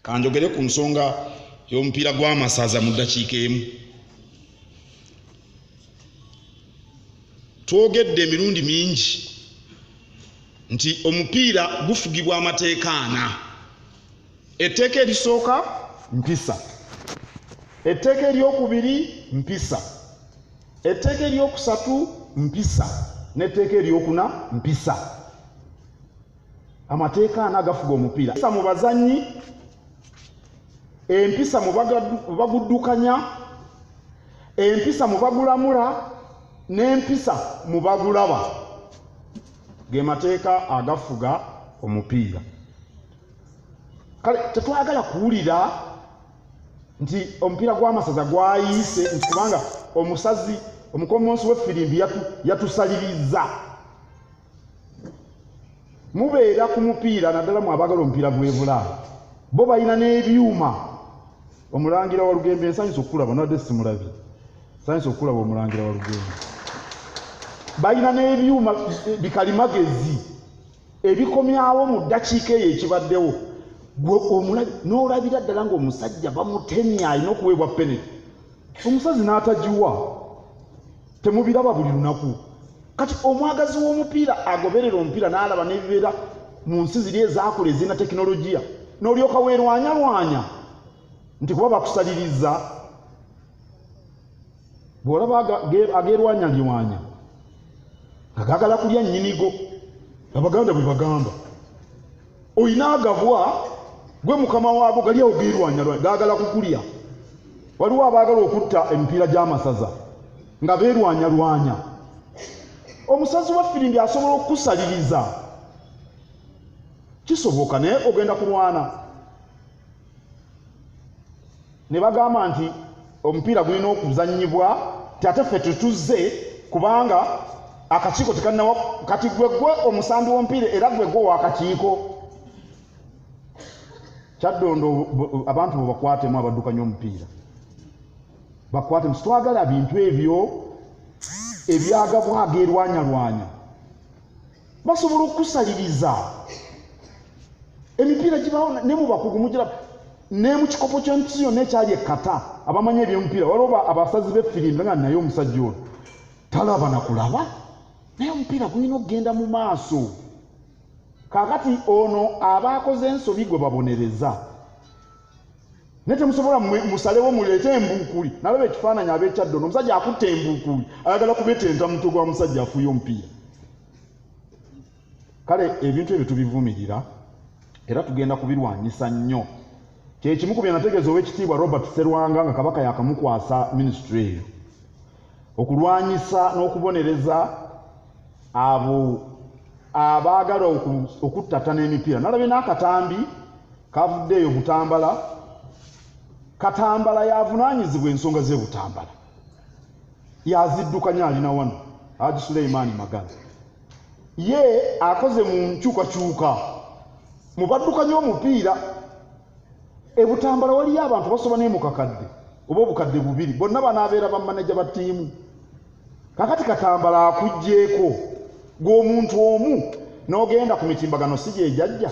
kanjogere ku nsonga y'omupiira gw'amasaza mu ddakiika emu twogedde emirundi mingi nti omupiira gufugibwa amateeka ana etteeka erisooka mpisa etteeka eryokubiri mpisa etteeka eryokusatu mpisa n'etteeka eryokuna mpisa amateeka ana agafuga omupiira empisa mu bazannyi empisa mu baguddukanya empisa mu bagulamula n'empisa mu bagulaba ge mateeka agafuga omupiira kale tetwagala kuwulira nti omupiira gw'amasaza gwayiise nti kubanga omusazi omukomonsi w'effirimbi yatusaliriza yatu mubeera ku mupiira naddala mu abagala omupiira gwebula bo balina n'ebyuma omulangira wa lugembe nsanyusa okukulaba nadde simulabi nsanyusa okukulaba omulangira wa lugembe balina n'ebyuma bikalimagezi ebikomyawo mu ddakiika eyo ekibaddewo n'olabira ddala ng'omusajja bamutemya alina okuweebwa peneti omusazi n'atagiwa temubiraba buli lunaku kati omwagazi w'omupiira agoberera omupiira n'alaba n'ebibeera mu nsi ziri ezaakula ezirina tekinologiya n'olyoka weerwanyalwanya nti kuba bakusaliriza bw'olaba ageerwanyalirwanya nga gaagala kulya nnyinigo abaganda bwe bagamba olina agabwa gwe mukama waago gali awo geerwanyalwa gaagala kukulya waliwo abaagala okutta emipiira gy'amasaza nga beerwanyalwanya omusazi wa firimbi asobola okukusaliriza kisoboka naye ogenda kulwana ne bagamba nti omupiira gulina okuzannyibwa ate ffe tetuzze kubanga akakiiko tekannawa kati gwe gwe omusambi w'omupiira era gwe gwe wakakiiko kyaddondo abantu bo bakwatemu abaddukanya omupiira bakwatemu sitwagala bintu ebyo ebyagabwaga erwanyalwanya basobola okukusaliriza emipiira gibawo ne mu bakugu mugira ne mu kikopo ky'ensi yonna ekyali ekkata abamanyi ebyomupiira waliwo abasazi b'effirimbi nga naye omusajja ono talaba na kulaba naye omupiira gulina okugenda mu maaso kaakati ono aba akoze ensobi gwe babonereza naye temusobola musalewo muleete embuukuli nalaba ekifaananyi abekyaddono omusajja akutte embuukuli ayagala kubetenta mutwe gwa musajja afuuye omupiira kale ebintu ebyo tubivumirira era tugenda kubirwanyisa nnyo kyekimu ku byenategeeza owekitiibwa robert serwanga nga kabaka yakamukwasa minisitule eyo okulwanyisa n'okubonereza abo abaagala okuttatana emipiira nalabye n'akatambi kavudde eyo butambala katambala yavunaanyizibwa ensonga ze butambala yaziddukanya alina wano haji suleimaani magala ye akoze mu nkyukakyuka mu baddukanya omupiira ebutambala waliyo abantu basoba naye mukakadde oba obukadde bubiri bonna banaabeera bamaneja ba ttiimu kakati katambala akugyeko gweomuntu omu n'ogenda ku mitimbagano si gyejajja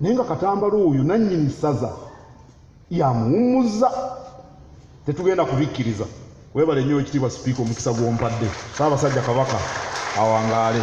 naye nga katambala oyo nannyini ssaza yamuwummuzza tetugenda kubikkiriza webale nnyo ekitiibwa sipiika omukisa gw'ompadde saabasajja kabaka awangaale